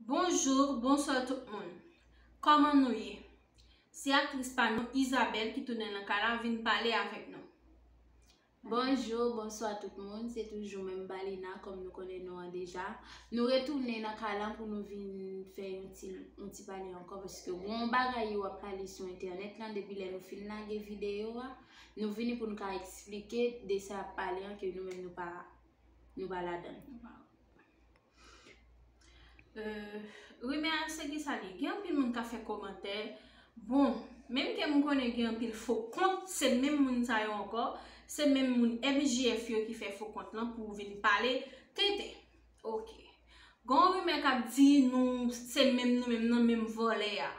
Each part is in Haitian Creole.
Bonjour, bonsoir tout moun Koman nou ye? Se aktris pa nou Isabelle ki tounen nan kay la vin pale avèk nou. Bonjour, bonsoir tout moun Se toujou menm Balina kòm nou konnen non an deja Nou retounen nan kay la pou nou vin fè yon ti yon ti pale ankò paske gon bagay yo ap pale sou entènèt lan depi lè nou fin lage videyo a nou vini pou nou ka eksplike de sa y ap pale an ke nou menm nou pa nou pa ladan l. Euh rimè a se kisa li? Gen anpil moun kap fè komantè, bon menm ke m konnen gen anpil fo kont se menm moun sa yo ankò, se menm moun MJF yo ki fè fo kont lan pou vin pale tenten. Ok gen yon rimè kap di nou se menm nou menm nan menm vòlè a.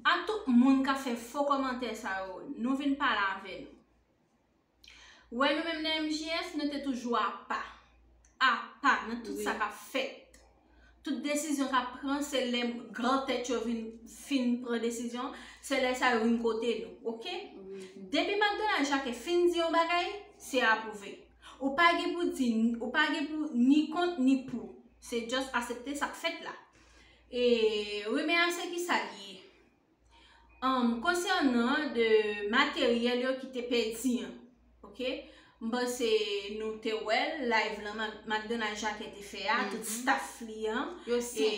A tout moun kap fè fo komantè sa yo, nou vin pale avè nou. Wè nou menm nan MJS nou te toujou apa. Apa nan tout sa k ap fèt. Tout desizyon k ap pran se lè gran tèt yo vin fin pran desizyon, se lè sa yo vin kote nou. Ok? Depi McDonald Jacques fin di yon bagay, se apwouve. Ou pa gen pou di, ou pa gen pou ni kont ni pou. Se just asepte sa k fèt la. E Rimè a se ki sa li ye? An, konsènan de materyèl yo ki te pèdi an, ok, m panse nou te wè l, live lan McDonald Jacquet te fè a, tout staff li an, e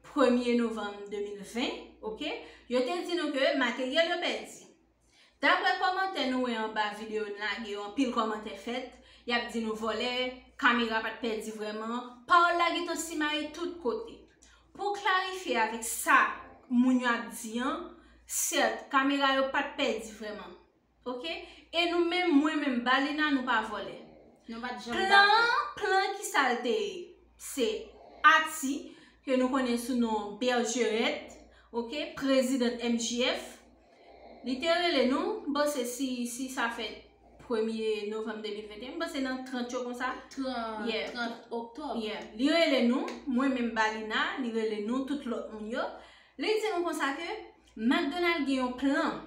premye novanm 2020, ok, yo te di nou ke materyèl yo pèdi. Daprè kòmantè nou wè anba video n lage yo anpil kòmantè fèt, yap di nou vòlè, kamera pat pèdi vrèman, pawòl la gentan simaye tout kote. Pou klarifye avèk sa moun yo ap di an, sèt, kamera yo pat pèdi vrèman. Ok, e nou menm, mwen menm, Balina nou pa vòlè. Plan an, plan an kisa l te ye? Se Ati, ke nou konnen sou non Bergerette, ok, prezidant MJF, Li te rele nou, m panse si si sa fèt premye novanm 2021, m panse nan 30 yo konsa. 30, Yeah. 30 oktòb. Yeah. Li rele nou, mwen menm Balina, li rele nou tout lòt moun yo. Li di nou konsa ke McDonald gen yon plan.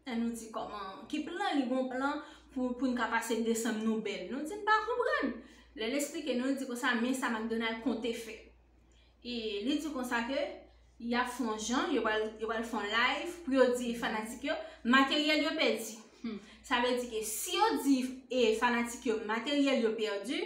E nou di kòman, ki plan li gon plan pou pou n ka pase desanm nou bèl. Nou di n pa konprann. Lè l esplike nou, l di konsa men sa McDonald konte fè. E li di konsa ke y ap fon jan, yo pral fon live pou yo di fanatik yo materyèl yo pèdi. Sa vle di ke si yo di fanatik yo materyèl yo pèdi,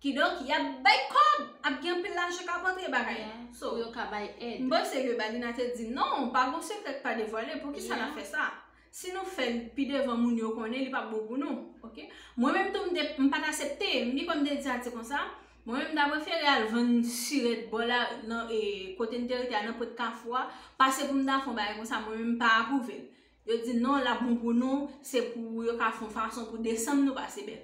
kidonk y ap bay kòb, ap gen anpil lajan k ap antre bagay la. Pou yo ka bay èd. M panse ke Balina te di non, pa gen sekrè k pa devwale, poukisa n ap fè sa? Si nou fèl pi devan moun yo konnen li pap bon pou nou ok mwen menm tou mte mpat asepte mdi kòm mte di sa se konsa mwen menm mta prefere al vann siret bò la nan e kote mte rete a nan pot kafou a pase poum ta fè yon bagay konsa mwen menm mpa aprouvel yo di non lap bon pou nou se pou yo ka fon fason pou desanm nou pase bèl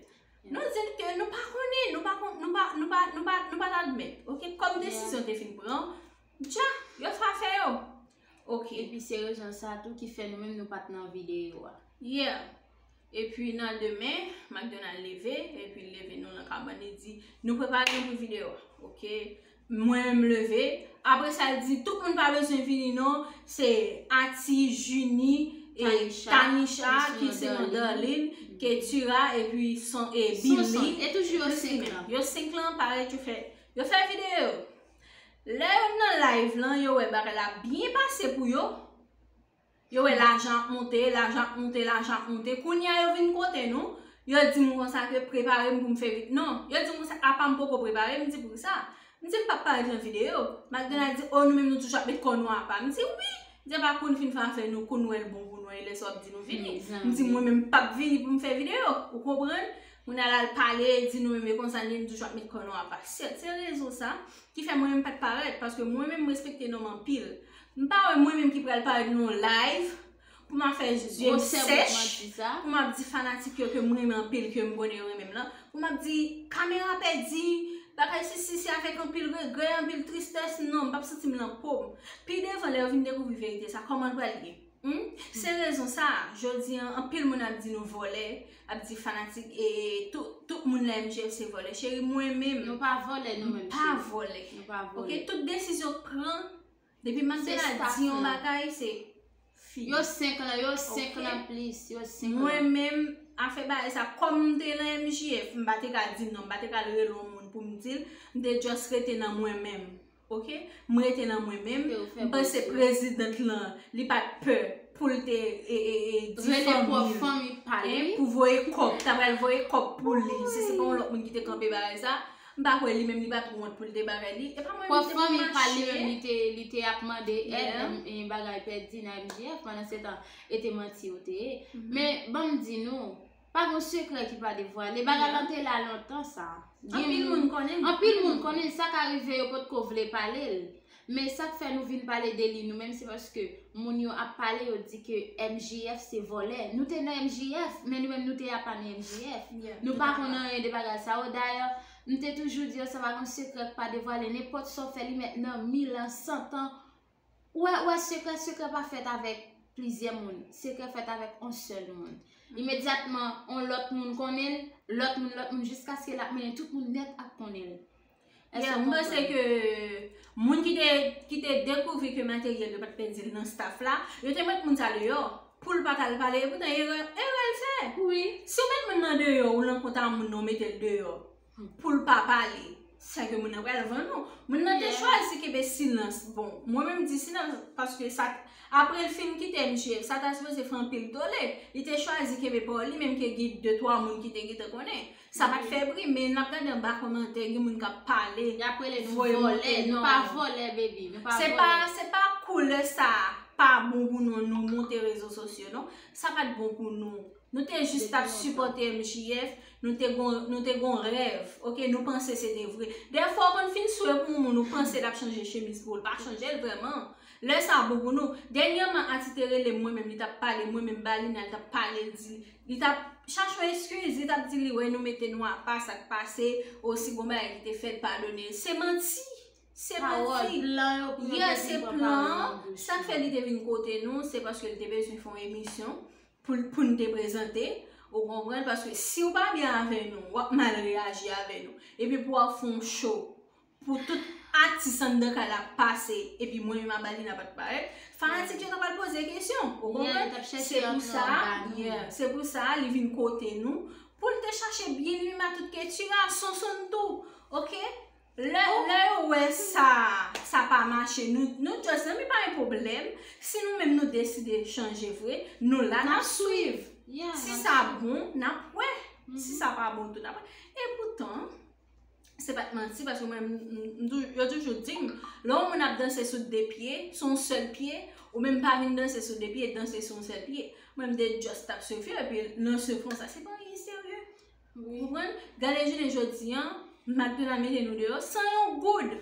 nou dil ke nou pa konnen nou pa kon nou pa nou pa nou pa nou pat admèt ok kòm desizyon te fin pran dja yo fè afè yo. Ok epi se rezon sa tou ki fè nou menm nou pat nan videyo a. Yeah! Epi nan demen, McDonald leve, epi li leve nou nan kabann li di, Nou prepare nou pou videyo a. Ok, mwen menm m leve, apre sa l di, Tout moun pa bezwen vini non, se Ati, Jini, e Tanisha, ki se yon Darline, Ketura, epi Billy. Sonson, e toujou yo 5 lan. Yo 5 lan parèt yo fè, yo fè videyo! Lè yo nan live lan yo wè bagay la ap byen pase pou yo, yo wè lajan ap monte, lajan ap monte, lajan ap monte, kounye a yo vin kote nou, yo di m konsa ke prepare m pou m fè vide, non, yo di m konsa apa m poko prepare, m di poukisa, m di m pap parèt lan videyo, McDonald di oh nou menm nou toujou ap met kò nou apa, m di wi, m di apa kou n fin fè afè nou, kou n wè l bon pou nou, e lè sa w ap di nou vini, m di mwen menm m pap vini pou m fè videyo, ou konprann. Moun al al pale, di nou menm e konsa nou menm toujou ap met kò nou apa. Sèt, se rezon sa ki fè mwen menm pat parèt paske mwen menm m respekte nonm anpil. M pa wè mwen menm ki pral parèt nan yon live pou m ap fè zye m sèch, pou m ap di fanatik yo ke m renmen anpil, ke m konnen yo renmen m lan, pou m ap di kamera pèdi, bagay sesi, se avèk anpil regrè, anpil tristès, non m pap santi m nan po m. Pi devan lè yo vin dekouvri verite sa, kòman l pral ye? Humm se rezon sa jodi an anpil moun ap di nou vòlè ap di fanatik ee tout moun nan MJF se vòlè cheri mwen menm Nou pa vòlè nou menm cheri mpa vòlè Nou pa vòlè ok tout desizyon k pran depi Mandela di yon bagay se fini Yo 5 lan yo 5 lan plis yo 5 lan Mwen menm afè bagay sa kòm mte nan MJF mpa te ka di non mpa te ka al rele yon moun poum dil mte just rete nan mwen menm. Ok m rete nan mwen menm m panse president lan li pat pè pou l te pou voye kòp ta pral voye kòp pou li si se pa yon lòt moun ki te kanpe bagay sa m pa kwè li menm li pat wont pou l te bagay li e pa mwen m te pou m mache li te ap mande ed m bagay pèdi nan MJF pandan se tan e te manti ou te ye men banm di nou Pa gen yon sekrè ki pa devwale. Bagay lan te la lontan sa. Anpil moun konnen l. Anpil moun konnen l. Sa ka rive yo pot ko vle pale l. Men sa k fè nou vin pale de li nou menm se paske moun yo ap pale yo di ke MJF se vòlè. Nou te nan MJF, men nou menm nou te apa nan MJF. Nou pa konnen anyen de bagay sa yo. Dayè, m te toujou di yo sa pa gen yon sekrè k pa devwale. Nenpòt sa w fè li mèt nan mil an, santan. Ou wè, ou wè sekrè, sekrè pa fèt avèk plizyè moun, sekrè fèt avèk on sèl moun. Imedyatman, on lòt moun konnen l, lòt moun, lòt moun, jiskaske l ap mennen tout moun nèt ak konnen l. Èske ou konprann? Mwen panse ke moun ki te, ki te dekouvri ke Materyèl yo pa t pe di l nan staf la, yo te met moun sa deyò pou l pa t al pale. Epoutan erè, erè l fè. Wi. Si w met moun nan deyò, ou lan kont a moun nan, ou mete l deyò. Pou l pa pale. Sa vle di moun nan pral vann ou. Moun nan te chwazi kenbe silans. Bon, mwen menm di silans paske sa apre l fin kite misye, sa ta sipoze fè anpil tole. Li te chwazi kenbe pa w li menm ke gen de twa moun ki te gentan konnen. Sa pa t fè bri men n ap gade anba kòmantè gen moun k ap pale. Y ap rele nou vòlè. Nou pa vòlè baby. Nou pa vòlè. Se pa koulè sa pa bon pou nou nou monte rezo sosyo non. Sa pa t bon pou nou. Nou te jis tap sipòte MJF, nou te gon, nou te gon rèv, ok, nou panse se te vre. Dèfwa ou konn fin swe pou yon moun ou panse lap chanje chemiz pou ou, l pa chanjel vrèman. Lè sa bon pou nou. Dènyèman Ati te relem mwen menm li tap pale mwen menm Balina li tap pale l di li tap chache yon eskiz, li tap di li wè nou mete nou apa sak pase, o si gon bagay ki te fèt padone l. Se manti! Se manti! Pawòl plan yo pou yo te vin pran pawòl nan bouch nou. Yes se plan, sak fè li te vin kote nou se paske li te bezwen fè yon emisyon, pou n te prezante, ou konprann, paske si w pa byen avè nou, w ap mal reyaji avè nou. Epi pou w ap fè yon show, pou tout atis anndan kay la ap pase, epi mwen menm ak Balina pa t parèt, fanatik yo ta pral poze kesyon, ou konprann? Se pou sa, yeah, se pou sa li vin kote nou, pou l te chache byen li menm ak tout Ketura, Sonsonn tou, ok? Lè yo wè sa sa pa mache nou just nan mi pa gen pwoblèm si nou menm nou deside chanje vre nou la nap swiv si sa bon nap wè si sa pa bon tou nap wè e poutan se pat manti paske mwen yo toujou dim lè yon moun ap danse sou 2 pye son sèl pye ou menm pa vin danse sou 2 pye danse sou yon sèl pye mwen m te just tap swiv yo epi nan se konsa se pa anyen serye. Ou konprann? Gade jounen jodi an, Macdonald mete nou deyò san yon goud.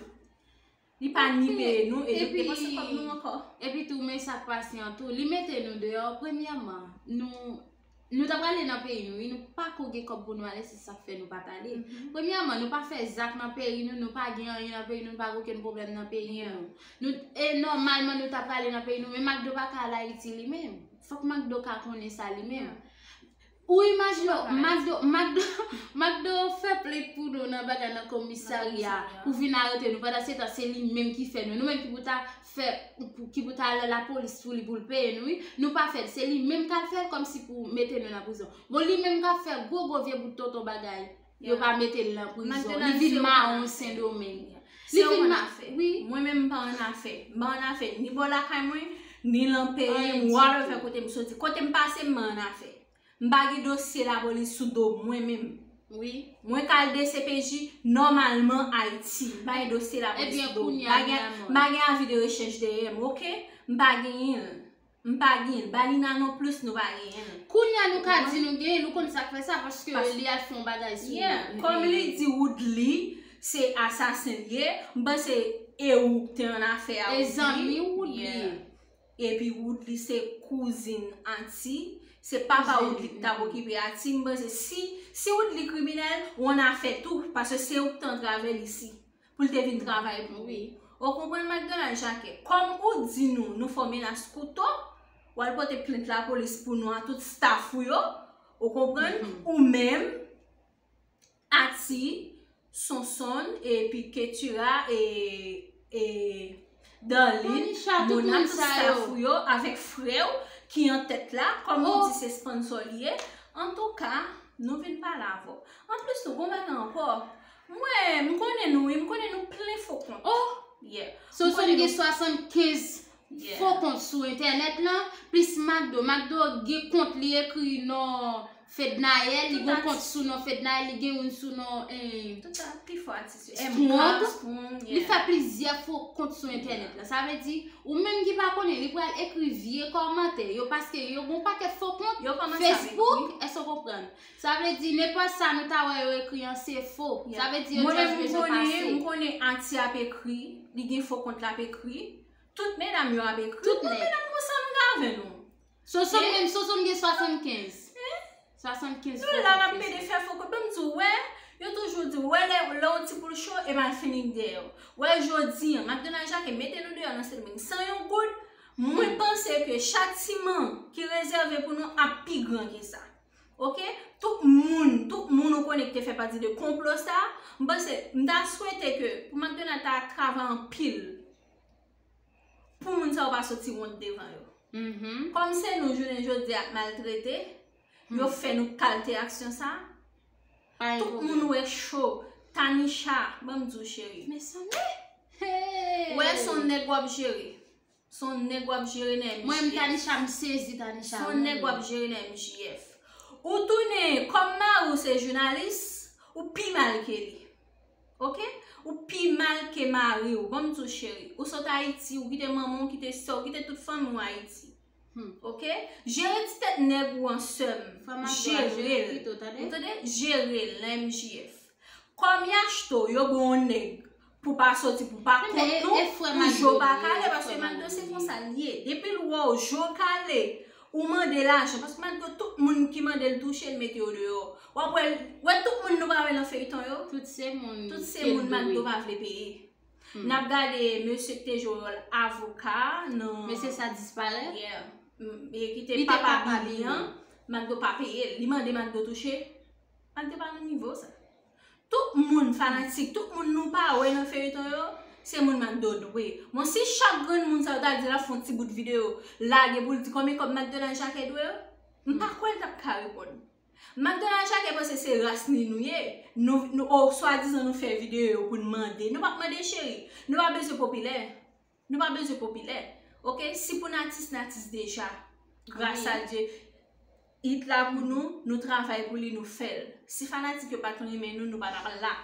Li pa ni peye nou e nou depanse kòb nou ankò. Epi tou men sa k pase an tou, li mete nou deyò premyèman, nou ta prale nan peyi nou wi, nou pa ko gen kòb pou nou ale se sa k fè nou pa t ale. Premyèman nou pa fè zak nan peyi nou, nou pa gen anyen nan peyi nou, nou pa gen okenn pwoblèm nan peyi nou. E nòmalman nou ta prale nan peyi nou men Macdo pa ka al Ayiti li menm. Fòk Macdo ka konnen sa li menm. Ou imajine w Macdo Macdo Macdo fè plent pou nou nan bagay nan komisarya pou vin arete nou pandan se tan se li menm ki fè nou nou menm ki pou ta fè ki pou ta al nan lapolis pou li pou l peye nou wi nou pa fè l se li menm k al fè l kòmsi pou mete nou nan prizon bon li menm k ap fè gwo gwo vye bout tonton bagay Yo pa mete l nan prizon. Li vin mawon Sendomeng. Se ou an afè. Mwen menm m pa an afè. M pa an afè ni bò lakay mwen, ni lan peyi m, whatever kote m soti. Kote m pase m pa an afè. M pa gen dosye lapolis sou do m mwen menm. Mwen ka al dcpj nòmalman Ayiti. M pa gen dosye lapolis sou do m. M pa gen avi de rechèch dèyè m. M pa genyen l. M pa gnyn balina non plus nou pa gnyn l. Kounya nou ka di nou genyn l ou konn sak fè sa paske li al fè yon bagay sou nou. Yeah kòm li di woodly se asasen l ye m panse e ou k te an afè a woodly. E zanmi woodly ye. Epi woodly se kouzin ati se papa woodly k tap okipe ati m panse si si woodly kriminèl ou an afè tou paske se ou k te antrave l isi. Pou l te vin travay pou wi. Ou konprann McDonald Jacques? Kòm ou di nou, nou fò menas kouto, w al pote plent lapolis pou nou a tout staff ou yo, ou konprann, ou menm, Ati, Sonsonn, epi Ketura e. Darline, Mona tout staff ou yo avèk frè ou ki an tèt la kòm ou di se sponsor li ye antouka nou vin pale avè w anplis tou gon bagay ankò mwen m konnen nou wi m konnen nou plen fo kont oh yeah so sou m gen 75 fo kont sou entènèt lan plis McDo McDo gen kont li ekri non Fednaelle li gon kont sou non Fednaelle li gen youn sou non Tout a pi fò atis yo MK Strong Li fè plizyè fo kont sou entènèt la Sa vle di ou menm ki pa konnen li pral ekri vye kòmantè yo paske yo gon pakèt fo kont Yo kòmanse avèk li Facebook èske ou konprann Sa vle di nenpòt sa nou ta wè yo ekri an se fo Sa vle di yo just bezwen pase Mwen menm m konnen m konnen Aarti ap ekri li gen fo kont l ap ekri Tout medam yo ap ekri Tout medam konsa nou gen avè nou Soso menm soso m gen 75. 75 Nou la nap pede fè fo kout banm di w wè Yo toujou di w wè lè yon ti poul cho e mal fini k dèyè w Wè jodi an Macdonald Jacques mete nou deyò nan Sendomeng san yon goud Mwen panse ke chatiman ki rezève pou nou ap pi gran ke sa Ok Tout moun tout moun ou konnen ki te fè pati de konplo sa M panse m ta swete ke pou Macdonald ta travay anpil Pou moun sa yo pa soti wont devan yo. Kòm se nou jounen jodi ap maltrete, yo fè nou kalte aksyon sa. Tout moun wè cho. Tanisha, ban m di w cheri. Men sa m e! Hey! Wè son nèg w ap jere. Son nèg w ap jere nan MJF. Mwen m Tanisha m sezi Tanisha m. Son nèg w ap jere nan MJF. Ou tounen kòm mari w se jounalis, ou pi mal ke li. Ok ou pi mal ke mariw bon bzou cheri ou sot ayiti ou kite manman ou kite sèw kite tout fanmi ou ayiti ok jere ti tèt nèg ou an sèm jerel ou tande jerel nan MJF kòm yachto yo bon yon nèg pou pa soti pou pa kont nou pou jo pa kale paske maldo se konsa liye depil wèw jo kale Ou mande lajan paske malgre tout moun ki mandel touchel mete yo deyò wap wèl wè tout moun nou pa wè nan feyton yo tout se moun tout se moun malgre yo pa vle peye nap gade mesye ki te jwe wòl avoka nan mesye sa disparèt yeah ki te papa bily an malgre yo pa peyel li mande malgre yo touchel malgre yo pa nan nivo sa. Tout moun fanatik tout moun nou pa wè nan feyton yo se moun McDo dwe bon si chak grenn moun sa yo ta di lap fè yon ti bout video lage poul di konbyen kòb McDonald Jacques dwe yo m pa kwè l tap ka reponn McDonald Jacques panse se ras ni nou ye nou o swadizan nou fè video pou n mande nou pap mande cheri nou pa bezwen popilè. Nou pa bezwen popilè ok si pou n atis n atis deja gras a Dye hit la pou nou nou travay pou li nou fè l si fanatik yo pa t renmen nou nou pa tap la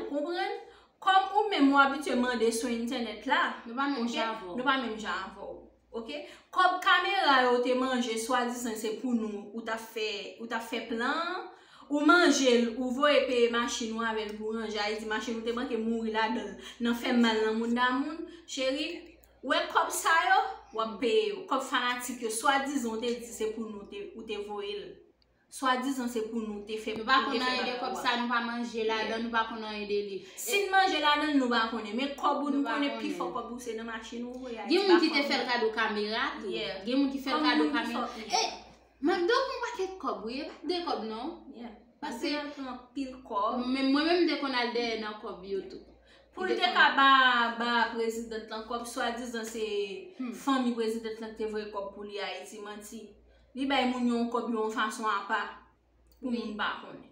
ou konprann kòm ou menm ou abitye mande sou entènèt la nou pa menm jan avè w nou pa menm jan avè w ok kòb kamera yo te manje swadizan se pou nou ou tap fè plan an. Ou manje l ou voye peye machin ou avè l pou ranje Ayiti machin ou te manke mouri ladan l nan fè mal nan moun da moun Cheri ou wè kòb sa yo w ap peye yo kòb fanatik yo swadizan ou te di se pou nou ou te voye l swadizan se pou nou ou te fè bagay la Nou pa konn anyen de kòb sa nou pa manje ladan l nou pa konn anyen de li Si n manje ladan l nou pa konnen men kòb ou nou konnen pifò kòb ou se nan machin ou voye Ayiti Gen moun ki te fè l kado kamera tou Gen moun ki fè l kado kamera e Macdo pran paket kob wi epa de kob non pase Macdo pran pil kob mwen menm mte konn al dèyè nan kob yo tou poul te ka ba president lan kob swa dizan se fanmi president lan kte voye kob pou li ayiti manti li bay moun yo yon kob yon fason apa pou moun pa konnen.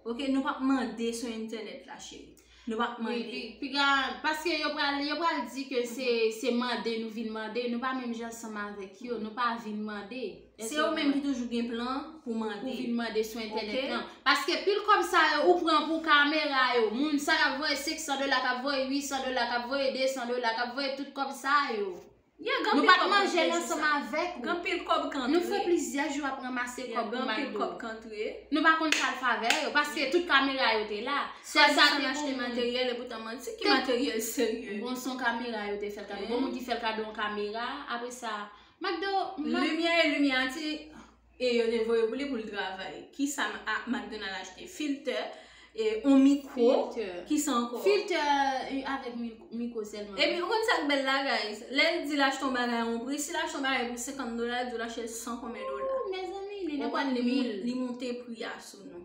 Ok nou pap mande sou entenet la cheri. Nou pa k mande. Wi, piga, paske yo pral, yo pral di ke se, se mande nou vin mande, nou pa menm jan ansanm avèk yo, nou pa vin mande. Se yo menm ki toujou gen plan pou mande. Pou vin mande sou entènèt lan. Ok. Paske pil kòb sa yo ou pran pou kamera yo, moun sa k ap voye 500 dola, k ap voye 800 dola, k ap voye 200 dola, k ap voye tout kòb sa yo. Nou pa t manje l ansanm avèk ou. Nou fè plizyè jou ap ranmase kòb pou McDo. Nou pa konn sa l fè avè yo, paske tout kamera yo te la. Sèl sa te bon moun. Bon, se yon kamera yo te fè l kado. Bon moun ki fè l kado yon kamera. Apre sa, McDo. Limyè e limyati. e yo te voye pou li pou l travay. Ki sa McDonald achte? Filtè, e yon mikwo. Filtè. Ki sa ankò? Filtè avèk mikwo sèlman. Epi, ou konn sa k bèl la, guys? Lè l di l achte yon bagay a yon pri, si l achte yon bagay pou 50 dola, l di w l achte l san konbyen dola. Ooh, mezanmi, li nan kòt mil. Li monte pri a sou nou.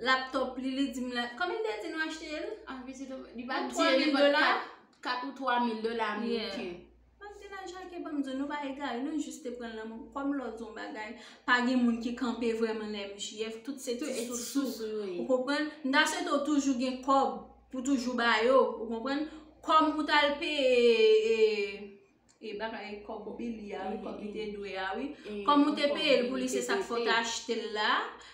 Laptop li, li di m la, konbyen l te di nou achte l? Anvi se te, li pa di l. Pou 3 mil dola. 4 ou 3 mil dola ameriken. Yeah. Bann ti lajan ke banm diw nou pa egare nou jis te pran lanmou kòm lòt zon bagay pa gen moun ki kanpe vrèman nan MJF tout se ti sousou ou konprann m ta swete ou toujou gen kòb pou toujou ba yo ou konprann kòm ou tal peye e bagay kòb Billy ya wi kòb li te dwe ya wi kòm ou te peye l pou li se sak fè w te achte l la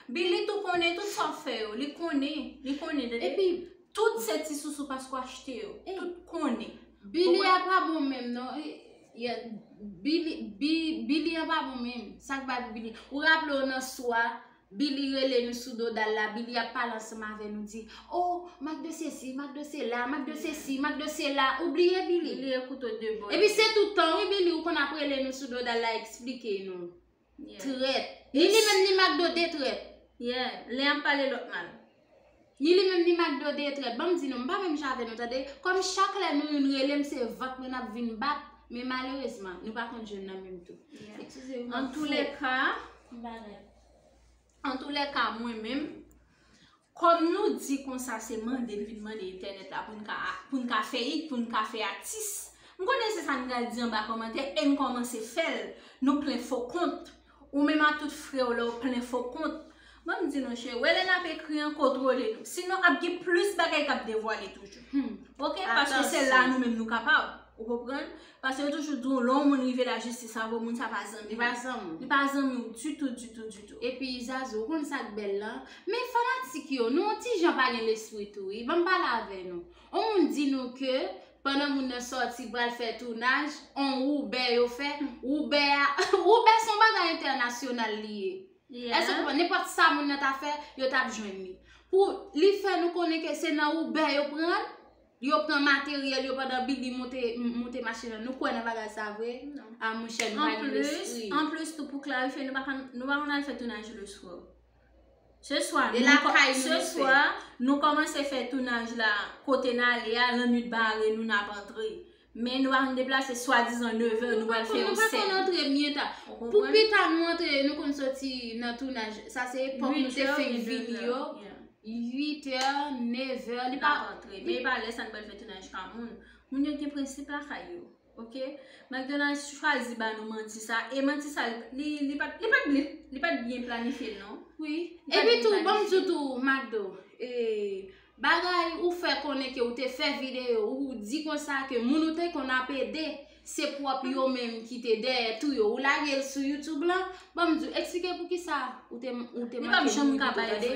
Billy tou konnen tout sa w fè yo li konnen li konnen tande tout se ti sousou paske w achte yo tout konnen. Billy a pa bon menm non Billy an pa bon menm Sak bat Billy Ou raple w nan swa Billy rele nou sou dodal la Billy ap pale ansanm avè nou di Oh mak de sesi mak de sela mak de sesi mak de sela Ou bliye Billy Epi se toutan wi Billy ou konn ap rele nou sou dodal la eksplike nou Trèt. Ni li menm ni Macdo 2 trèt. Yeah, len ap pale lòt mal. Ni li menm ni Macdo 2 trèt. Banm di nou, m pa menm jan avè nou tande. Kòm chak lè nou youn rele m se vant mwen nap vin bat, men malerezman, nou pa konn jwenn nan menm tou. Eskize m. Antoulèka, m pa rèd. Antoulèka mwen menm, kòm nou di konsa se mande n vin mande entènèt la pou n ka fè it, pou n ka fè atis, m konnen se sa n pral di anba kòmantè e n kòmanse fè l, nou plen fo kont, ou menm ak tout frè w la ou plen fo kont. Ban m di nou cheri, wè lè n ap ekri an, kontwole nou. Sinon ap gen plis bagay k ap devwale toujou. Hum. Ok, paske se la nou menm nou kapab. Ou konprann? Paske yo toujou di w lè yon moun rive lajistis sa vle moun sa pa zanmi w. Li pa zanmi w. Li pa zanmi w ditou ditou ditou. Epi Zazou ou konn sak bèl lan? Men fanatik yo, nou yon ti jan pa gen lespri tou wi. Banm pale avè nou. On moun di nou ke pandan moun nan sòti pral fè tounaj, on woube yo fè, woube a, woube son bagay entènasyonal li ye. Èske ou konprann? Nenpòt sa moun nan ta fè, yo tap jwenn li. Pou li fè nou konnen ke se nan woube yo pran l? Yo pran materyèl yo pandan Bibi moute machin an. Nou kwè nan bagay sa vre? Non. A mouche nou pa gen lespri. An plis tou pou klarifye nou pa konn al fè tounaj le swa. Se swa nou. E la kay nou fè. Se swa nou kòmanse fè tounaj la kote nan ale a lannwit bare nou nan ap antre. Men nou pa konn deplase swadizan neve nou pral fè yon sèn. Nou pa konn antre byen ta. Pou pita nou antre, nou konn soti nan tounaj. Sa se epòk nou te fenk vini yo. 8 è, 9 è. Li pa antre. Men pa lè sa nou pral fè tounaj pa moun. Moun yo gen prensip la kay yo. Ok? McDonald's chwazi ba nou manti sa. E manti sa, li pat byen planifye non. Wi. E pi tou, banm di w tou, McDo. E... Bagay ou fè konnen ke ou te fè video ou di konsa ke moun ou te konn ap ede se pwòp yo menm ki te dèyè tou yo ou lagel sou youtube lan banm diw eksplike poukisa ou te ou te manke moun pito tande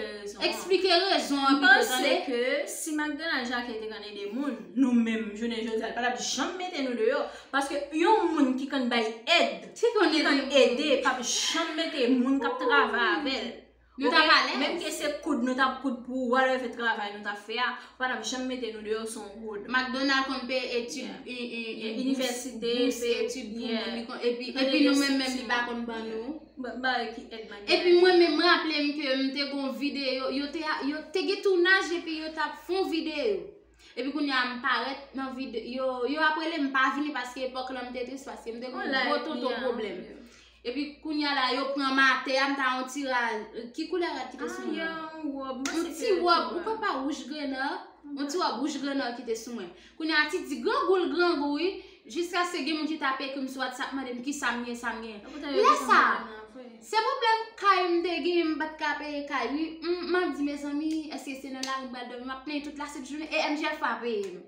eksplike rezon an pito tande. Mpanse ke si McDonald Jacques te konn ede moun nou menm jounen jodi a li patap janm mete nou deyò paske yon moun ki konn bay èd ki konn ede pap janm mete moun kap travay avèl Nou tap alèz. Menm ke se koud nou tap koud pou ou whatever fe travay nou tap fè a, ou pa tap janm mete nou deyò son wood. McDonald konn peye etid inivèsite, peye etid pou moun li konn epi epi nou menm menm li pa konn ban nou. Bon bagay ki èd McDonald. Epi mwen menm mwen raplem ke m te gon videyo yo te yo te gen tounaj epi yo tap fon videyo. Epi kounye a m parèt nan vide yo yo ap rele m pa vini paske epòk lan m te tris paske m te gon gwo tonton pwoblèm. Epi kounye a la yo pran m atè a m ta yon ti ra ki koulè rad ki te sou mwen. Ah yon wòb m panse se yon ti wòb. Yon ti wòb ou kwè pa wouj grenò. Yon ti wòb wouj grenò ki te sou mwen. Kounye a ti di grangou l grangou wi. Jiskaske gen moun ki tap ekri m sou WhatsApp mande m kisa m ye sa m ye. Lè sa, se pwoblèm kay m te gen m pat ka peye kay li, m ap di mezanmi eske se nan lari m pral dòmi, m ap plenyen tout la sent jounen e MJF pa peye m.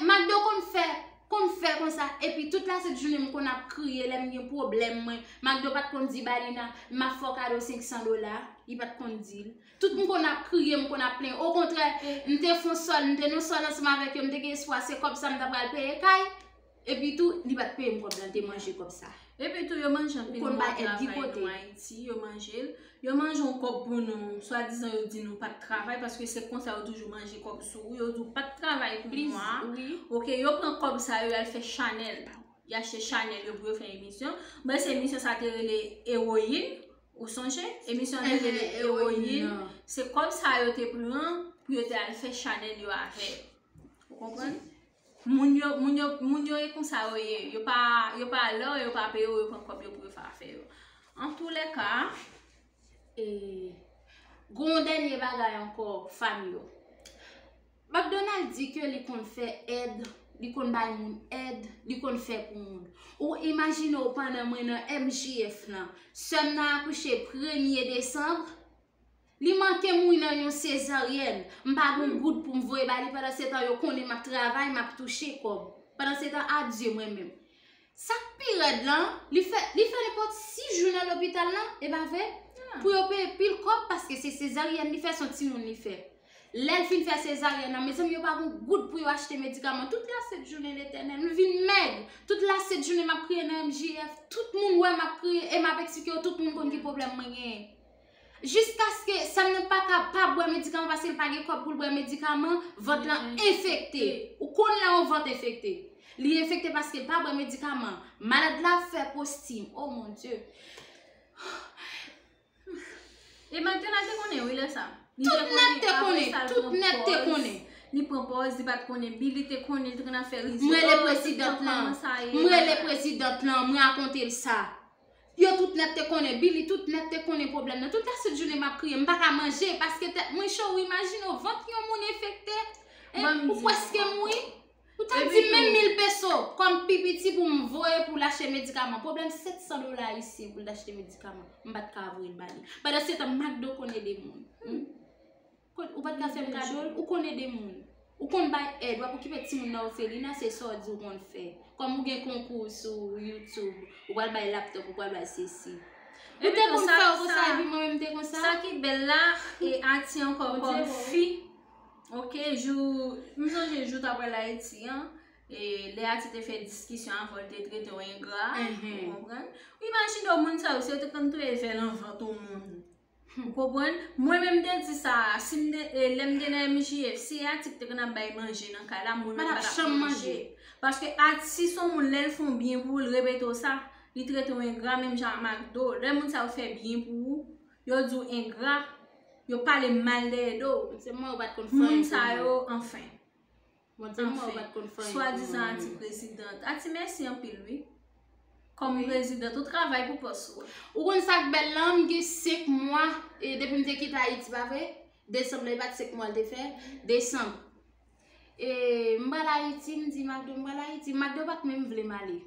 Makdo konn fè, konn fè konsa epi tout la sent jounen m konn ap kriye lè m gen pwoblèm mwen, Makdo pat konn di Balina m ap fè w kado 500 dola, li pat konn di l. Tout m konn ap kriye, m konn ap plenyen. Okontrè, m te fon sòl, m te nan sòl ansanm avèk yo, m te gen espwa se kòb sa m ta pral peye kay. Epi tou, li pa t peye m kòb la, l te manje kòb sa. Epi tou, yo manje anpil moun ap travay nou Ayiti, yo manje l. Yo manje yon kòb pou nou, swadizan yo di nou pa t travay, paske se konsa yo toujou manje kòb sou ou. Yo di w pa t travay pou mwa a. Ok, yo pran kòb sa yo, y al fè chanèl. Y achte chanèl yo pou yo fè emisyon. Mwen se emisyon sa te rele Ewoyin. Ou sonje emisyon an te rele Ewoyin an. Se kòb sa yo te pran pou yo te al fè chanèl yo avè. Ou konprann? Moun yo, moun yo, moun yo e konsa yo ye. Yo pa, yo pa lè yo pa peye yo, yo pran kòb yo pou yo fè afè yo. An tou lè ka, e, gon yon dènye bagay ankò fanm yo. McDonald di ke li konn fè èd, li konn bay moun èd, li konn fè pou moun. Ou imajine w pandan mwen nan MJF lan, sè m nan akouche premye desanm, li manke mouri nan yon sezaryèn, m pa gen yon goud pou m voye ba li, pandansetan yo konnen m ap travay, m ap touche kòb. Pandansetan, adye mwen menm. Sa k pi rèd lan, li fè li fè nenpòt 6 jou nan lopital lan, e pa vre? Pou yo peye pil kòb paske se sezaryèn li fè, s on timoun li fè. Lè l fin fè sezaryèn nan, mezanmi yo pa gen yon goud pou yo achte medikaman. Tout la sent jounen Letènèl, m vin mèg! Tout la sent jounen m ap kriye nan MJF, tout moun wè m ap kriye e m ap eksplike yo, tout moun konn ki pwoblèm mwen genyen. Jiskaske sèm nan pa ka pa bwè medikaman paske l pa gen kòb pou l bwè medikaman, vant lan enfekte. Ou konn lè yon vant enfekte. Li enfekte paske l pa bwè medikaman. Malad la ap fè postim. Oh mon Dieu! E Magdala te konnen wi lè sa. Tout nèg te konnen. Tout nèg te konnen. Li pran pòz, li pat konnen bi, li te konnen, li te konn ap fè rizyèl. M rele prezidant lan. M rele prezidant lan, m rakonte l sa. Yo tout nèt te konnen, Billy tout nèt te konnen pwoblèm nan. Tout aset jounen m ap kriye, m pa ka manje paske tèt mwen cho. Ou imajine w vant yon moun enfekte, ou pwèske mouri. Ou ta di m menm mil peso kòm pi piti pou m voye pou l achte medikaman. Pwoblèm 700 dola ayisyen pou l t achte medikaman, m pa t ka voye l ba li. Pandansetan, McDo konn ede moun. Ou pat ka fem kadol, ou konn ede moun. Ou konn bay èd, wap okipe ti moun nan ofelina se sa w di w konn fè. Kom ou gen konkou sou YouTube, ou pral bay laptop, ou pral bay sesi. Ou te konn fè ou konsa epi mwen menm te konsa. Sa ki bel la, e Ati anko kom fi. Ok, jou, m sonje jou ta pral Ayiti an, e le Ati te fè diskisyon avan l te trete w engra, ou konprann. Ou imajine w moun sa yo, si yo te konn touye vè lan vant w moun. Ou konprann? Mwen menm te di sa a, si m te, lè m te nan MJF, si e atik te konn ap bay manje nan kay la, moun lan pa t ap janm manje. Paske atis se yon moun lè l fè w byen pou l repete w sa, li trete w engra menm jan a Makdo. Lè moun sa yo fè byen pou ou, yo di w engra, yo pale mal dèyè do w. Moun sa yo, anfen. Anfen, swadizan anti president a ti mèsi anpil wi. Kòm president ou travay pou pòs ou a. Ou konn sak bèl lan m gen 5 mwa depim te kite ayiti pa vre? Desanm lan e pat 5 mwa l te fè? Desanm e m pral ayiti m di Macdo m pral ayiti Macdo pat menm vle m ale.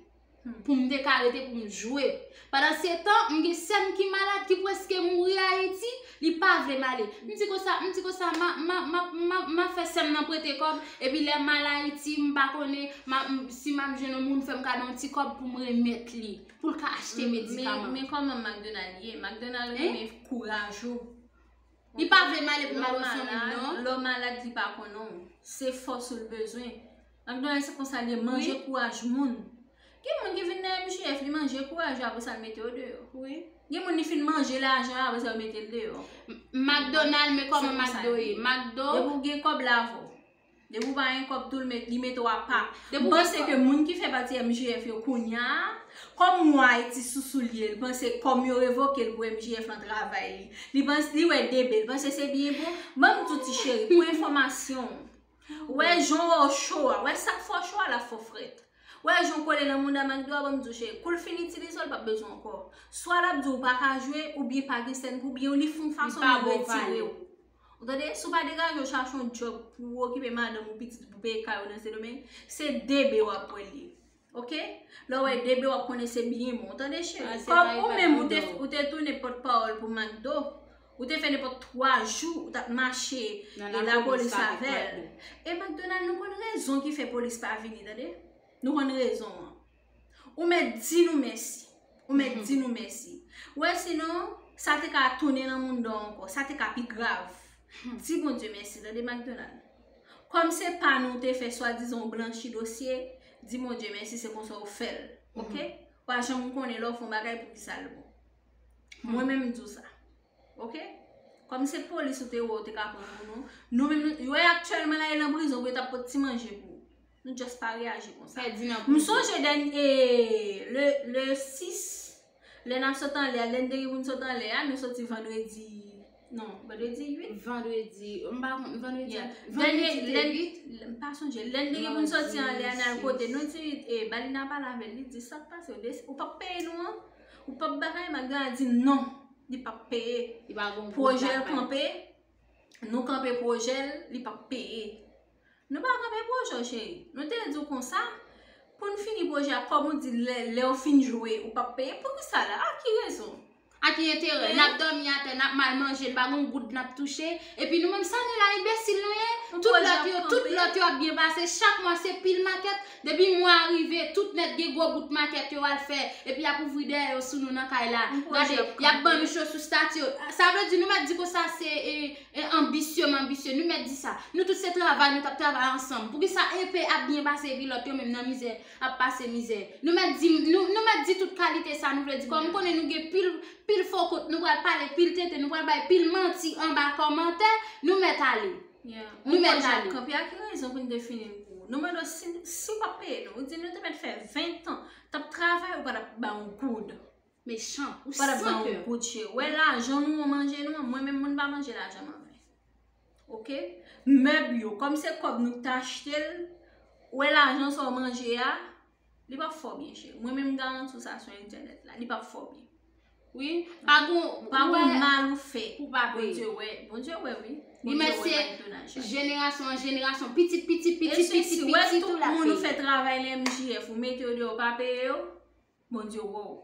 pou m te ka rete pou m jwe. Pandan se tan, m gen sè m ki malad ki preske mouri Ayiti, li pa vle m ale. M di konsa, m di konsa, m ap fè sè m nan prete kòb, epi lè m al Ayiti, m pa konnen si m ap jwenn yon moun fè m kado yon ti kòb pou m remèt li, pou l ka achte medikaman. Men kòman McDonald ye? McDonald renmen kouraj ou. Li pa vle male pou mal oson moun non. Lò malad li pa konnen w. Se fòs ou l bezwen. McDonald se konsa l ye manje kouraj moun. Gen moun ki vin nan MJF li manje kouraj yo apre sa l mete yo deyò. Gen moun li fin manje lajan apre sa yo mete l deyò. McDonald men kòman McDo ye. Depi w gen kòb lave w. Depi ou pa gen kob tou li mete w a pa. M panse ke moun ki fè pati MJF yo kounya, kòm mwa Ayiti sou soulye l, panse kòm yo revoke l pou MJF lan travay li. Li panse, li wè DB, li panse se byen pou, ban m di w ti cheri, pou enfòmasyon w, wè jan w wè cho a, wè sa k fè w cho a la fè w frèt. Wè jan w kole nan mouda McDo a, ban m di w cheri, kou l fin itilize w, l pap bezwen w ankò. Swa l ap di w ou pa ka jwe, oubyen pa gen sèn pou, oubyen li fè yon fason li retire w. Ou tande, si w pa degaje w chache yon djòb pou w okipe madanm ou, pitit ou, pou w peye kay ou nan Sendomeng, se debe w ap pran li. Ok? Lè w wè debe w ap konnen se byen bon. Ou tande cheri? Kòm ou menm ou te tounen pòtpawòl pou MAKDO, ou te fè nenpòt 3 jou ou t ap mache e lapolis avè l. E MAKDONALD nou konn rezon ki fè polis pa vini tande. Nou konn rezon an. Ou mèt di nou mèsi. Ou mèt di nou mèsi. Ou wè sinon, sa te ka tounen nan moun'd ou ankò. Sa te ka pi grav. Di Bondye mèsi. Tande Macdonald. Kòm se pa nou ou te fè swadizan ou blanchi dosye, di Bondye mèsi se konsa ou fè'l. Ok? Ou pa janm konnen lè ou fè yon bagay pou ki sa'l bon. Mwen menm m'di ou sa. Ok? Kòm se polis ou te wè ou te ka pran pou nou, nou menm nou, yo ye aktyèlman la yo nan prizon pou yo t'ap pot ti manje pou ou. Nou just pa reyaji konsa. Pèdi nan prizon. M sonje dèn e le 6 lè n ap sot anlè a, lè n te gen pou n sot anlè a, nou soti vandredi non, vandredi 8? Vandredi, m pa konn, vandredi a? Yeah. Vandredi te 8? M pa sonje. Lè n te gen pou n soti anlè a n al kote nou ti e Balina pale avè l, li di sa k pase yo, ou pap peye nou an? Ou pap bagay? Malgre a di non, li pap peye. Li pa gon pou l ta bay. Pwojè l kanpe, nou kanpe pwojè l, li pap peye. Nou pa kanpe pwojè w cheri. Nou te di w konsa pou n fini pwojè a kòm ou di lè w fin jwe ou pap peye poukisa la a ki rezon? A ki enterè? N ap dòmi atè, n ap mal manje, n pa gen yon goud n ap touche epi nou menm sa nou la enbesil nou ye? Tout lòt yo tout lòt yo ap byen pase chak mwa se pil makèt depi mwa a rive tout nèt gen gwo bout makèt yo al fè epi y ap ouvri dèyè yo sou nou nan kay la gade y ap ban nou cho sou stati yo sa vle di nou mèt di konsa se E anbisye m anbisye, nou mèt di sa. Nou tout se travay nou t ap travay ansanm. Poukisa enpe ap byen pase epi lòt yo menm nan mizè ap pase mizè? Nou mèt di nou mèt di tout kalite sa nou vle di. Kòm m konnen nou gen pil pil fo kont nou pral pale pil tenten nou pral bay pil manti anba kòmantè nou mèt ale. Nou mèt ale. Kanpe a ki rezon pou n te fini n kou. Nou mande w si si w pa p peye nou. Ou di nou te mèt fè ventan t ap travay ou pa t ap ba yon goud. Mechan ou san kè. Ou pa tap banm kout je. Wè lajan nou an manje nou an mwen menm mwen pa manje lajan m anfen. Ok mèb yo kòm se kòb nou ta achte l ou wè lajan sa w manje a li pap fè w byen cheri mwen menm m garanti w sa sou entènèt la li pap fè w byen. Wi pa gon pa gon mal ou fè. Ou pa wè. Bondye wè. Bondye wè wi. Li mèt se jenerasyon an jenerasyon pitit pitit pitit pitit pitit ou la peye. Esye si wè tout moun ou fè travay lè MJF ou mete yo deyò ou pa peye yo. Bondye wè w.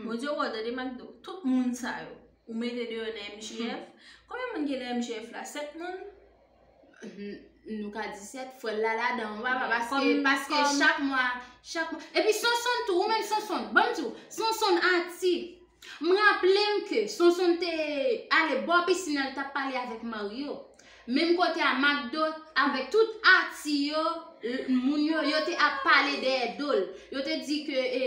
Bondye wè w tande mak di w. Tout moun sa yo ou mete deyò nan MJF. Konbyen moun gen nan MJF la? 7 moun? Nou ka di 7 fwè l la ladan w papa paske paske chak mwa chak mwa epi Sonsonn tou ou menm Sonsonn banm di w Sonsonn ati m raple m ke Sonsonn te ale bò pisin an l t ap pale avèk Maryo Menm kote a Macdo avèk tout ati yo, moun yo, yo te ap pale dèyè dol. Yo te di ke e,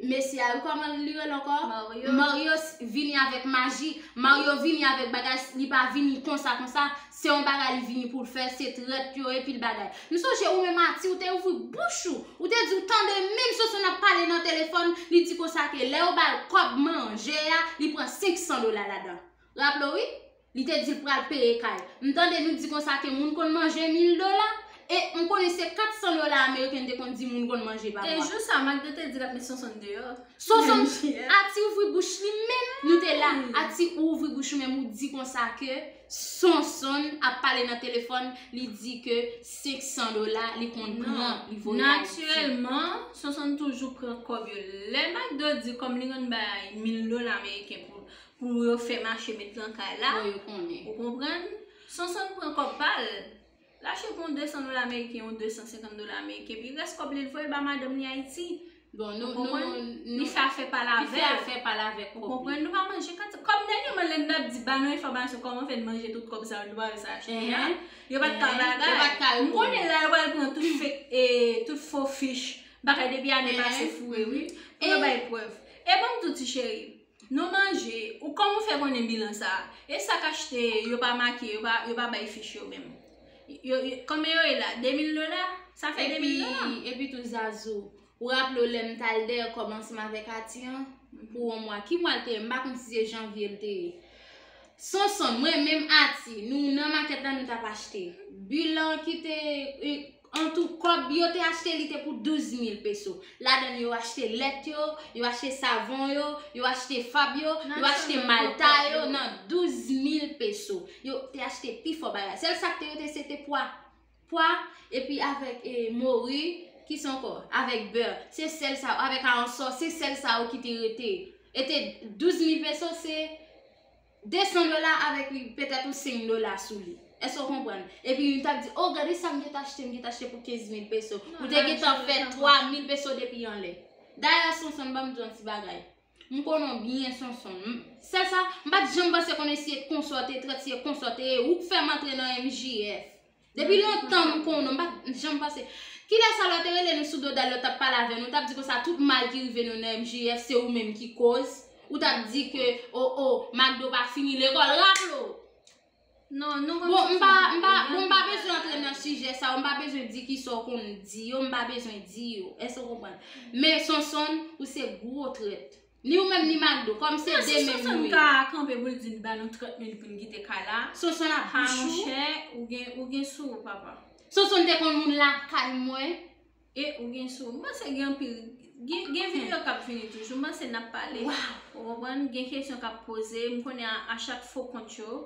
mesye a, kòman li rele ankò? Mario. Mario vini avèk maji, Mario vini avèk bagay, li pa vini konsa konsa, se yon bagay li vini pou l fè, se trèt yo e pil bagay. M sonje ou menm ati ou te ouvri bouch ou, ou te di ou tande menm Sosonn ap pale nan telefòn, li di konsa ke lè yo ba l kòb manje a, li pran 500 dola ladan. Raple w wi? Li te dil pral peye kay. M tande nou di konsa ke moun konn manje mil dola? E m konnen se 400 dola ameriken n te konn di moun konn manje pa mwa. E jou sa Magde te di lap met Sonsonn deyò. Sonsonn, Ati ouvri bouch li menm. Nou te la, Ati ou ouvri bouch ou menm ou di konsa ke Sonsonn ap pale nan telefòn li di ke 500 dola li konn pran li voye Ayiti. Natirèlman, Sonsonn toujou pran kòb yo. Lè Magde di kòm li konn bay 1000 dola ameriken Pou yo fè mache met lan kay la. Bon yo konnen. Ou konprann? Sonsonn pran kòb pa l. L al chèke yon 200 dola meriken ou 250 dola meriken. Pi rès kòb li l voye ba madanm li Ayiti. Bon nou, nou, nou. Li fè afè pa l avè l. Li fè afè pa l avè kòb li. Ou konprann? Nou pa manje kat sa. Kòm dènyèman lè n ap di ba nou enfòmasyon kòman fè n manje tout kòb sa yo n te pa rès achte a. Enhen. Yo pa t ka bagay. Yo pa t ka reponn. M konnen la yo pral pran tout fek e tout fo fich bagay depi ane pase foure wi. Pou yo bay prèv. E ban m di w ti cheri. Non manje, ou kòman ou fè konnen bilan sa? E sak achte yo pa make, yo pa bay fich yo menm? Yo, yo, konbyen yo ye la? 2000 dola? Sa fè 2000 dola? Epi, epi tou Zazou, ou raple w lè m t al dèyè w kòm ansanm avèk Ati an pou yon mwa? Ki mwa l te ye? M pa konn si se janvye l te ye. Sonson, mwen menm Ati, nou nan makèt la nou t ap achte. Bilan ki te, Antou, kòb yo te achte li te pou 12 mil peso. Ladann yo achte lèt yo, yo achte savon yo, yo achte fab yo, yo achte malta yo nan 12 mil peso. Yo te achte pi fò bagay. Sèl sa k te rete se te pwa. Pwa, epi avèk e, mori, ki sa ankò? Avèk bè. Se sèl sa, avèk aransò, se sèl sa yo ki te rete. E te 12 mil peso se 200 dola avèk li petèt ou 5 dola sou li. Èske ou konprann? Epi yon tap di, oh gade sa m gen ta achte, m gen ta achte pou 15 mil peso. Ou te gen tan fè 3 mil peso depi anlè. Dayè Sonson banm di w yon ti bagay. M konnen w byen Sonson. Sèl sa, m pat janm panse konnen si e konsa w te trèt, si e konsa w te ye. Ou k fè m antre nan MJF. Depi lontan m konnen w, m pa t janm panse. Kilè sa lò te rele nou sou do Dal lò t ap pale avè nou, ou t ap di konsa tout mal ki rive nou nan MJF se ou menm ki koz, ou t ap di ke o o Makdo pa fini lekòl, raple w! Bon m pa m pa bon m pa bezwen antre nan sijè sa yo, m pa bezwen di ki sa w konn di yo, m pa bezwen di yo, èske w konprann? Men Sonsonn ou se gwo trèt. Ni ou menm ni Mado, kòm se 2 menm nou ye. Mwen si Sonson ka kanpe pou l di n ba nou 30 mil pou n kite kay la. Sonson ap bouch ou. Ha monchè, ou gen sou ou papa. Sonson te konn moun lakay mwen. E ou gen sou ou. M panse gen anpil, gen video k ap vini toujou. M panse n ap pale. Waww. Ou konprann, gen kesyon k ap poze. M konnen a chak fo kont yo,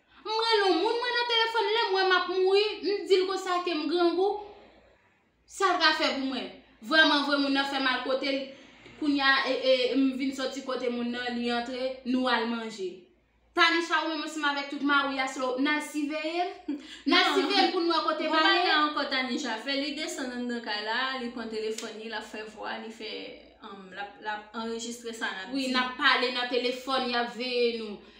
M rele on moun mwen nan telefòn lèm wè map mouri m dil konsa kem grangou sal ka fè pou mwen vrèman vre moun nan fè mal kotel kounya m vin soti kote moun nan li antre nou al manje Tanisha ou menm ansanm avèk tout mariw ya selon ou nal siveyem nal siveyem poun wè kote male. Nan gon bagay ankò Tanisha fè li desann anndan kay la li pran telefòn li lap fè vwa li fè lap anrejistre sa nap di wi nap pale nan telefòn yap veye nou.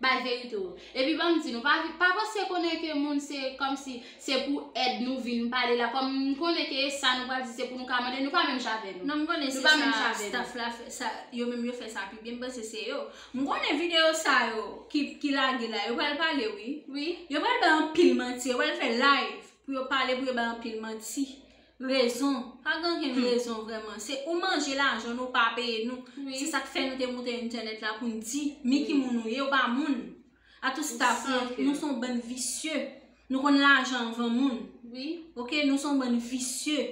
Bay verite w. Epi banm di nou, pa vin, pa panse konnen ke moun se kòmsi se pou èd nou vin pale la, kòm m konnen ke sa nou pral di se pou nou ka mande, nou pa menm jan avè nou. Non m konnen se sa staff la fè sa, yo menm yo fè sa pi byen, m panse se yo. M konnen videyo sa yo ki lage la, yo pral pale wi. Wi. Yo pral bay anpil manti, yo pral fè live pou yo pale pou yo bay anpil manti. Rezon, pa gen okenn rezon vrèman, se ou manje lajan nou ou pa peye nou, se sak fè nou te moute entènèt la poun di mi ki moun nou ye, ou pa moun, a tout staff lan, nou son bann visye, nou konn lajan anvan moun, ok, nou son bann visye,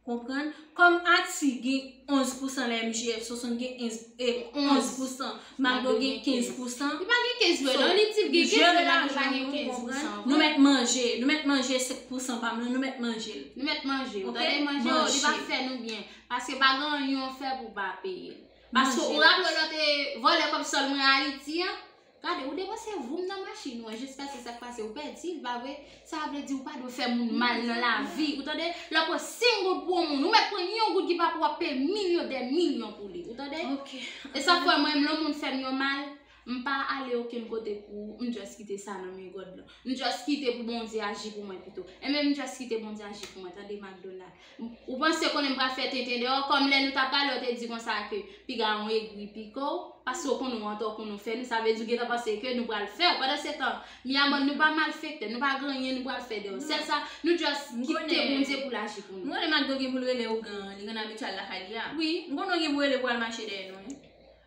konprann, kòm Ati gen 11 pousan nan MJF, Sosonn gen 11 pousan, Macdo gen 15 pousan. Li pa gen 15 vre non li di gen 15 vre Macdo pa gen 15 pousan vre. Nou mèt manje, nou mèt manje 5 pousan pam lan nou mèt manjel. Nou mèt manjel ok manje. Tande manje yo li pa fè nou byen paske pa gen anyen ou fè pou pa peye. Paske ou raple w lò te vòlè kòb sòl mwen Ayiti an. Gade ou depanse voum nan machin ou an jiska se sak pase ou pèdi l pa vre. Sa vle di ou pa dwe fè moun mal nan lavi ou tande lè pran 5 goud pou yon moun ou mèt pran yon goud ki pa pou wap peye milyon dè milyon pou li ou tande e sa fè mwen lè yon moun fèm yon mal m pa ale okenn kote pou ou m just kite sa nan men God lan m just kite pou Bondye aji pou mwen pito e men m just kite Bondye aji pou mwen tande Macdonald. Ou panse konnen m pral fè tenten de ou, kòm lè nou ta pale ou te di konsa ke piga ou egri pike ou, paske ou konnen ou antò pou nou fè nou, sa vle di ou gentan panse ke nou pral fè ou, pandansetan, mi a mòn nou pa malfektè, nou pa gen anyen nou pral fè de ou, sèl sa, nou just kite Bondye pou l aji pou nou. M konnen Macdo gen pou l rele ougan an, li konn abityal lakay li a. M konnen ou gen pou rele pou al mache dèyè nou wi.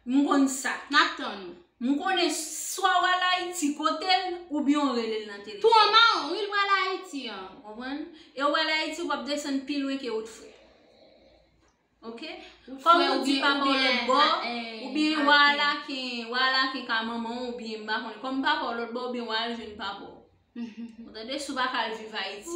M konn sa. N ap tann ou. M konnen swa w al Ayiti kote l oubyen w rele l nan telefòn. Tou an mawon, wi l pral Ayiti an, ou konprann? E w al Ayiti w ap desann pi lwen ke wout frè. Ok? Kòm ou di papa w lòtbò, oubyen w al Aken, w al Aken ka manman w oubyen m pa konnen. Kòm papa w lòtbò oubyen w al jwenn papa w. Ou tande si w pa ka al viv Ayiti.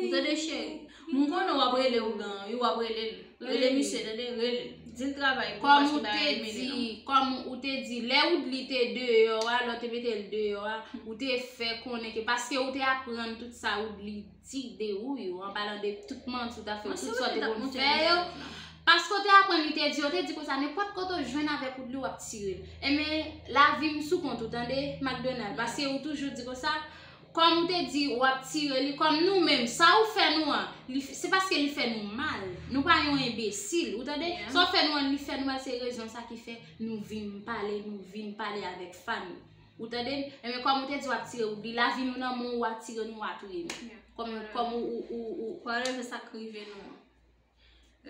Ou tande cheri. M konnen w ap rele ougan an wi, w ap rele l. Rele misye tande, rele l. Di l travay tou paske w ta renmen li non. Kòm ou te di, lè Woodly te deyò a, lè w te mete l deyò a, ou te fè konnen ke paske ou te aprann tout sa Woodly ti de ou yo, an palan de tout manti ou ta fè, tout sa te konn fè yo, paske ou te aprann li te di, yo te di konsa, nenpòt kote ou jwenn avèk ou dlo, w ap tire l. Enben, lavi m sou kont ou, tande, Makdonal, paske ou toujou di konsa, kòm ou te di w ap tire li, kòm nou menm, sa ou fè nou an, se paske li fè nou mal, nou pa yon enbesil, ou tande, sa ou fè nou an, li fè nou mal, se rezon sa ki fè nou vin pale, nou vin pale avèk fanm. Ou tande m Enben kòm ou te di wap tire ou di lavi nou nan men w wa tire nou wa touye nou Kòm kòm ou ou ou ou Pa reve sa k rive nou an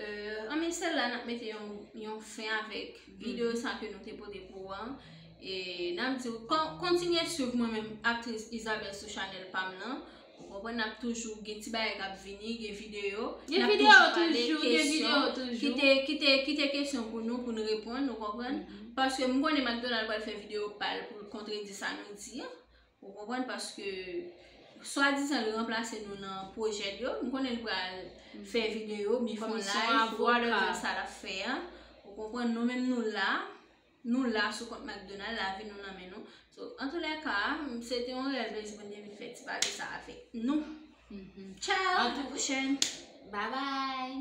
Euh Anben se la nap mete yon yon fen avèk videyo sa ke nou te pote pou ou an E nap di w kon kontinye swiv mwen menm aktris Isabelle sou chanèl pa m lan Ou konprann nap toujou gen ti bagay kap vini, gen video, nap toujou pale kesyon, kite kesyon pou nou pou nou reponn, ou konprann, paske m konnen McDonald pral fè video pal pou l kontredi sa nou di an, ou konprann paske swa dizan l ranplase nou nan pwojè l yo, m konnen l pral fè video, mi fon live, wòl de sa lap fè an, ou konprann nou menm nou la. Nou la sou kont McDonald lavi nou nan men nou so an tou lè ka se te yon rèv lè di Bondye vin fè ti pati sa avèk nou tchao a tou pwochèn babay.